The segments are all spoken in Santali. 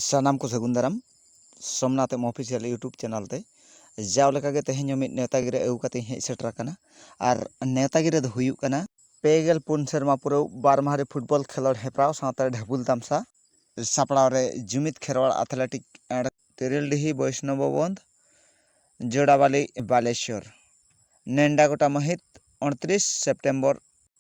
ᱥᱟᱱᱟᱢ ᱠᱚ ᱥᱟᱹᱜᱩᱱ ᱫᱟᱨᱟᱢ Somnath M official YouTube channel ᱛᱮ ᱡᱟᱣ ᱞᱮᱠᱟᱜᱮ ᱛᱮᱦᱮᱧ ᱦᱚᱸ ᱢᱤᱫ ᱱᱮᱣᱛᱟ ᱜᱤᱨᱟᱹ ᱟᱹᱜᱩ ᱠᱟᱛᱮᱧ ᱦᱮᱡ ᱥᱮᱴᱮᱨ ᱟᱠᱟᱱᱟ ᱟᱨ ᱱᱮᱣᱛᱟ ᱜᱤᱨᱟᱹ ᱫᱚ ᱦᱩᱭᱩᱜ ᱠᱟᱱᱟ ᱯᱮ ᱜᱮᱞ ᱯᱩᱱ ᱥᱮᱨᱢᱟ ᱯᱩᱨᱟᱹᱣ ᱵᱟᱨ ᱢᱟᱦᱟ ᱨᱮ ᱯᱷᱩᱴᱵᱚᱞ ᱠᱷᱮᱞᱳᱰ ᱦᱮᱯᱨᱟᱣ ᱥᱟᱶᱛᱟ ᱰᱷᱟᱹᱵᱩᱞ ᱛᱟᱢᱥᱟ ᱥᱟᱯᱲᱟᱣ ᱨᱮ ᱡᱩᱢᱤᱫ ᱠᱷᱮᱨᱣᱟᱲ ᱟᱛᱷᱞᱮᱴᱤᱠ ᱮᱸᱰ ᱛᱮᱨᱮᱞᱰᱤᱦᱤ ᱵᱚᱭᱥᱱᱚᱵᱚ ᱵᱚᱱᱫᱷ ᱡᱚᱲᱟᱵᱟᱞᱤ ᱵᱟᱞᱮᱥᱚᱨ ᱱᱮᱱᱰᱟ ᱜᱚᱴᱟ ᱢᱟᱹᱦᱤᱛ ᱩᱱᱛᱨᱤᱥ ᱥᱮᱯᱴᱮᱢᱵᱚᱨ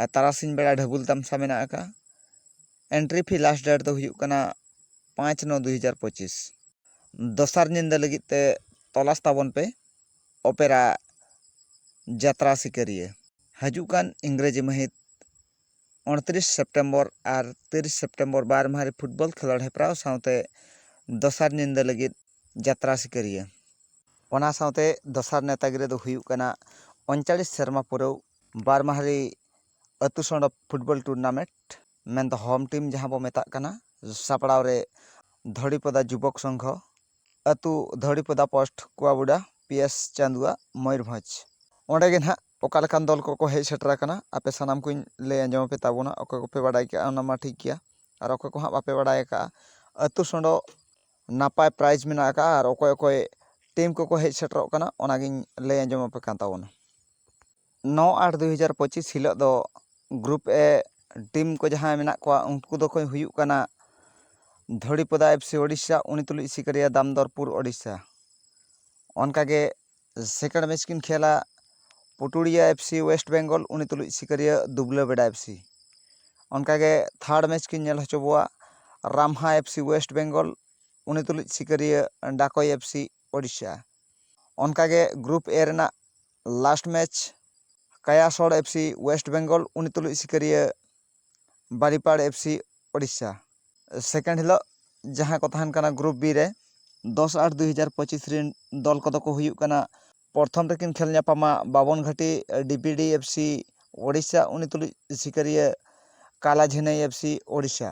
ᱟᱨ ᱛᱟᱨᱟᱥᱤᱧ ᱵᱮᱲᱟ ᱰᱷᱟᱹᱵᱩᱞ ᱛᱟᱢᱥᱟ ᱢᱮᱱᱟᱜ ᱟᱠᱟᱫᱼᱟ ᱮᱱᱴᱨᱤ ᱯᱷᱤ ᱞᱟᱥᱴ ᱰᱮᱴ ᱫᱚ ᱦᱩᱭᱩᱜ ᱠᱟᱱᱟ ᱯᱟᱸᱪ ᱱᱚ ᱫᱩ ᱦᱟᱡᱟᱨ ᱯᱚᱸᱪᱤᱥ ᱫᱚᱥᱟᱨ ᱧᱤᱫᱟᱹ ᱞᱟᱹᱜᱤᱫ ᱛᱮ ᱛᱚᱞᱟᱥ ᱛᱟᱵᱚᱱ ᱯᱮ ᱚᱯᱮᱨᱟ ᱡᱟᱛᱨᱟ ᱥᱤᱠᱟᱹᱨᱤᱭᱟᱹ ᱦᱤᱡᱩᱜ ᱠᱟᱱ ᱤᱝᱨᱮᱡᱤ ᱢᱟᱹᱦᱤᱛ ᱩᱱᱛᱨᱤᱥ ᱥᱮᱯᱴᱮᱢᱵᱚᱨ ᱟᱨ ᱛᱤᱨᱤᱥ ᱥᱮᱯᱴᱮᱢᱵᱚᱨ ᱵᱟᱨ ᱢᱟᱦᱟ ᱨᱮ ᱯᱷᱩᱴᱵᱚᱞ ᱠᱷᱮᱞᱳᱰ ᱦᱮᱯᱨᱟᱣ ᱥᱟᱶᱛᱮ ᱫᱚᱥᱟᱨ ᱧᱤᱫᱟᱹ ᱞᱟᱹᱜᱤᱫ ᱡᱟᱛᱨᱟ ᱥᱤᱠᱟᱹᱨᱤᱭᱟᱹ ᱚᱱᱟ ᱥᱟᱶᱛᱮ ᱫᱚᱥᱟᱨ ᱱᱮᱛᱟ ᱜᱤᱨᱟᱹ ᱫᱚ ᱦᱩᱭᱩᱜ ᱠᱟᱱᱟ ᱩᱱᱪᱟᱞᱤᱥ ᱥᱮᱨᱢᱟ ᱯᱩᱨᱟᱹᱣ ᱵᱟᱨ ᱢᱟᱦᱟ ᱨᱮ ᱟᱹᱛᱩ ᱥᱚᱲᱚᱠ ᱯᱷᱩᱴᱵᱚᱞ ᱴᱩᱨᱱᱟᱢᱮᱱᱴ ᱢᱮᱱᱫᱚ ᱦᱳᱢ ᱴᱤᱢ ᱡᱟᱦᱟᱸ ᱵᱚᱱ ᱢᱮᱛᱟᱜ ᱠᱟᱱᱟ ᱥᱟᱯᱲᱟᱣ ᱨᱮ ᱫᱷᱚᱲᱤᱯᱚᱫᱟ ᱡᱩᱵᱚᱠ ᱥᱚᱝᱜᱷᱚ ᱟᱹᱛᱩ Dhoripoda post Kuabuda P S Chandua Mayurbhanj ᱚᱸᱰᱮ ᱜᱮ ᱱᱟᱦᱟᱜ ᱚᱠᱟ ᱞᱮᱠᱟᱱ ᱫᱚᱞ ᱠᱚᱠᱚ ᱦᱮᱡ ᱥᱮᱴᱮᱨ ᱟᱠᱟᱱᱟ ᱟᱯᱮ ᱥᱟᱱᱟᱢ ᱠᱚᱧ ᱞᱟᱹᱭ ᱟᱸᱡᱚᱢ ᱟᱯᱮ ᱛᱟᱵᱚᱱᱟ ᱚᱠᱚᱭ ᱠᱚᱯᱮ ᱵᱟᱰᱟᱭ ᱠᱟᱜᱼᱟ ᱚᱱᱟ ᱢᱟ ᱴᱷᱤᱠ ᱜᱮᱭᱟ ᱟᱨ ᱚᱠᱚᱭ ᱠᱚ ᱦᱟᱸᱜ ᱵᱟᱯᱮ ᱵᱟᱰᱟᱭ ᱟᱠᱟᱜᱼᱟ ᱟᱹᱛᱩ ᱥᱚᱸᱰᱚ ᱱᱟᱯᱟᱭ ᱯᱨᱟᱭᱤᱡᱽ ᱢᱮᱱᱟᱜ ᱟᱠᱟᱜᱼᱟ ᱟᱨ ᱚᱠᱚᱭ ᱚᱠᱚᱭ ᱴᱤᱢ ᱠᱚᱠᱚ ᱦᱮᱡ ᱥᱮᱴᱮᱨᱚᱜ ᱠᱟᱱᱟ ᱚᱱᱟᱜᱤᱧ ᱞᱟᱹᱭ ᱟᱸᱡᱚᱢ ᱟᱯᱮ ᱠᱟᱱ ᱛᱟᱵᱚᱱᱟ ᱱᱚ ᱟᱴ ᱫᱩ ᱦᱟᱡᱟᱨ ᱯᱚᱸᱪᱤᱥ ᱦᱤᱞᱳᱜ ᱫᱚ ᱜᱨᱩᱯ ᱮ ᱴᱤᱢ ᱠᱚ ᱡᱟᱦᱟᱸᱭ ᱢᱮᱱᱟᱜ ᱠᱚᱣᱟ ᱩᱱᱠᱩ ᱫᱚᱠᱚ ᱦᱩᱭᱩᱜ ᱠᱟᱱᱟ ᱫᱷᱚᱲᱤᱯᱚᱫᱟ ᱮᱯᱷ ᱥᱤ ᱳᱰᱤᱥᱟ ᱩᱱᱤ ᱛᱩᱞᱩᱡ ᱥᱤᱠᱟᱹᱨᱤᱭᱟᱹ ᱫᱟᱢᱫᱚᱨᱯᱩᱨ ᱳᱰᱤᱥᱟ ᱚᱱᱠᱟᱜᱮ ᱥᱮᱠᱮᱱᱰ ᱢᱮᱪ ᱠᱤᱱ ᱠᱷᱮᱞᱟ Puturia F C West Bengal ᱩᱱᱤ ᱛᱩᱞᱩᱡ ᱥᱤᱠᱟᱹᱨᱤᱭᱟᱹ ᱫᱩᱵᱽᱞᱟᱹ ᱵᱮᱰᱟ ᱮᱯᱷ ᱥᱤ ᱚᱱᱠᱟᱜᱮ ᱛᱷᱟᱨᱰ ᱢᱮᱪ ᱠᱤᱱ ᱧᱮᱞ ᱦᱚᱪᱚ ᱵᱚᱣᱟ Ramha F C West Bengal ᱩᱱᱤ ᱛᱩᱞᱩᱡ ᱥᱤᱠᱟᱹᱨᱤᱭᱟᱹ ᱰᱟᱠᱳᱭ ᱮᱯᱷ ᱥᱤ ᱳᱰᱤᱥᱟ ᱚᱱᱠᱟᱜᱮ ᱜᱨᱩᱯ ᱮ ᱨᱮᱱᱟᱜ ᱞᱟᱥᱴ ᱢᱮᱪ ᱠᱟᱭᱟᱥᱚᱲ ᱮᱯᱷ ᱥᱤ ᱳᱭᱮᱥᱴ ᱵᱮᱝᱜᱚᱞ ᱩᱱᱤ ᱛᱩᱞᱩᱡ ᱥᱤᱠᱟᱹᱨᱤᱭᱟᱹ Baripada F C Odisha second ᱦᱤᱞᱳᱜ ᱡᱟᱦᱟᱸ ᱠᱚ ᱛᱟᱦᱮᱱ ᱠᱟᱱᱟ ᱜᱨᱩᱯ ᱵᱤ ᱨᱮ ᱫᱚᱥ ᱟᱴ ᱫᱩᱭ ᱦᱟᱡᱟᱨ ᱯᱚᱸᱪᱤᱥ ᱨᱮᱱ ᱫᱚᱞ ᱠᱚᱫᱚ ᱠᱚ ᱦᱩᱭᱩᱜ ᱠᱟᱱᱟ ᱯᱨᱚᱛᱷᱚᱢ ᱨᱮᱠᱤᱱ ᱠᱷᱮᱞ ᱧᱟᱯᱟᱢᱟ ᱵᱟᱵᱚᱱ ᱜᱷᱟᱴᱤ D P D F C Odisha ᱩᱱᱤ ᱛᱩᱞᱩᱡ ᱥᱤᱠᱟᱹᱨᱤᱭᱟᱹ ᱠᱟᱞᱟ ᱡᱷᱤᱱᱟᱹᱭ ᱮᱯᱷ ᱥᱤ ᱳᱰᱤᱥᱟ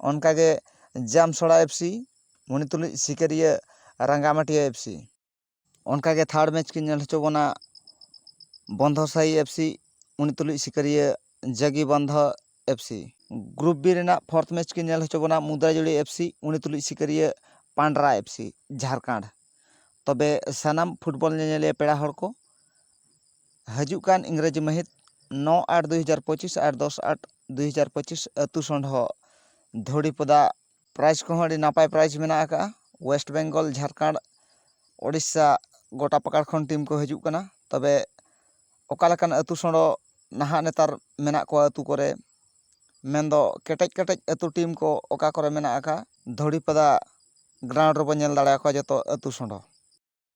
ᱚᱱᱠᱟ ᱜᱮ ᱡᱟᱢᱥᱚᱲᱟ ᱮᱯᱷ ᱥᱤ ᱩᱱᱤ ᱛᱩᱞᱩᱡ ᱥᱤᱠᱟᱹᱨᱤᱭᱟᱹ ᱨᱟᱸᱜᱟᱢᱟᱹᱴᱤᱭᱟᱹ ᱮᱯᱷ ᱥᱤ ᱚᱱᱠᱟᱜᱮ ᱛᱷᱟᱨᱰ ᱢᱮᱪ ᱠᱤᱱ ᱧᱮᱞ ᱦᱚᱪᱚ ᱵᱚᱱᱟ ᱵᱚᱱᱫᱷᱚ ᱥᱟᱭᱤ ᱮᱯᱷ ᱥᱤ ᱩᱱᱤ ᱛᱩᱞᱩᱡ ᱥᱤᱠᱟᱹᱨᱤᱭᱟᱹ ᱡᱟᱜᱤ ᱵᱚᱱᱫᱷᱚ ᱮᱯᱷ ᱥᱤ ᱜᱨᱩᱯ ᱵᱤ ᱨᱮᱱᱟᱜ ᱯᱷᱳᱨᱛᱷ ᱢᱮᱪ ᱠᱤᱱ ᱧᱮᱞ ᱦᱚᱪᱚ ᱵᱚᱱᱟ ᱢᱩᱫᱽᱨᱟᱡᱩᱲᱤ ᱮᱯᱷ ᱥᱤ ᱩᱱᱤ ᱛᱩᱞᱩᱡ ᱥᱤᱠᱟᱹᱨᱤᱭᱟᱹ ᱯᱟᱱᱰᱨᱟ ᱮᱯᱷ ᱥᱤ ᱡᱷᱟᱲᱠᱷᱚᱸᱰ ᱛᱚᱵᱮ ᱥᱟᱱᱟᱢ ᱯᱷᱩᱴᱵᱚᱞ ᱧᱮᱧᱮᱞᱤᱭᱟᱹ ᱯᱮᱲᱟ ᱦᱚᱲ ᱠᱚ ᱦᱤᱡᱩᱜ ᱠᱟᱱ ᱤᱝᱨᱮᱡᱤ ᱢᱟᱹᱦᱤᱛ ᱱᱚ ᱟᱴ ᱫᱩᱭ ᱦᱟᱡᱟᱨ ᱯᱚᱸᱪᱤᱥ ᱟᱨ ᱫᱚᱥ ᱟᱴ ᱫᱩᱭ ᱦᱟᱡᱟᱨ ᱯᱚᱸᱪᱤᱥ ᱟᱹᱛᱩ ᱥᱚᱸᱰᱷᱚ ᱫᱷᱚᱲᱤᱯᱚᱫᱟ ᱯᱨᱟᱭᱤᱡᱽ ᱠᱚᱦᱚᱸ ᱟᱹᱰᱤ ᱱᱟᱯᱟᱭ ᱯᱨᱟᱭᱤᱡᱽ ᱢᱮᱱᱟᱜ ᱟᱠᱟᱫᱼᱟ ᱳᱭᱮᱥᱴ ᱵᱮᱝᱜᱚᱞ ᱡᱷᱟᱲᱠᱷᱚᱸᱰ ᱳᱰᱤᱥᱟ ᱜᱳᱴᱟ ᱯᱟᱠᱟᱲ ᱠᱷᱚᱱ ᱴᱤᱢ ᱠᱚ ᱦᱤᱡᱩᱜ ᱠᱟᱱᱟ ᱛᱚᱵᱮ ᱚᱠᱟ ᱞᱮᱠᱟᱱ ᱟᱹᱛᱩ ᱥᱚᱲᱚ ᱱᱟᱦᱟᱜ ᱱᱮᱛᱟᱨ ᱢᱮᱱᱟᱜ ᱠᱚᱣᱟ ᱟᱹᱛᱩ ᱠᱚᱨᱮ ᱢᱮᱱᱫᱚ ᱠᱮᱴᱮᱡ ᱠᱮᱴᱮᱡ ᱟᱹᱛᱩ ᱴᱤᱢ ᱠᱚ ᱚᱠᱟ ᱠᱚᱨᱮ ᱢᱮᱱᱟᱜ ᱟᱠᱟᱫᱼᱟ ᱫᱷᱚᱲᱤᱯᱟᱫᱟ ᱜᱨᱟᱣᱩᱱᱰ ᱨᱮᱵᱚᱱ ᱧᱮᱞ ᱫᱟᱲᱮᱭᱟᱠᱚᱣᱟ ᱡᱚᱛᱚ ᱟᱹᱛᱩ ᱥᱚᱲᱚ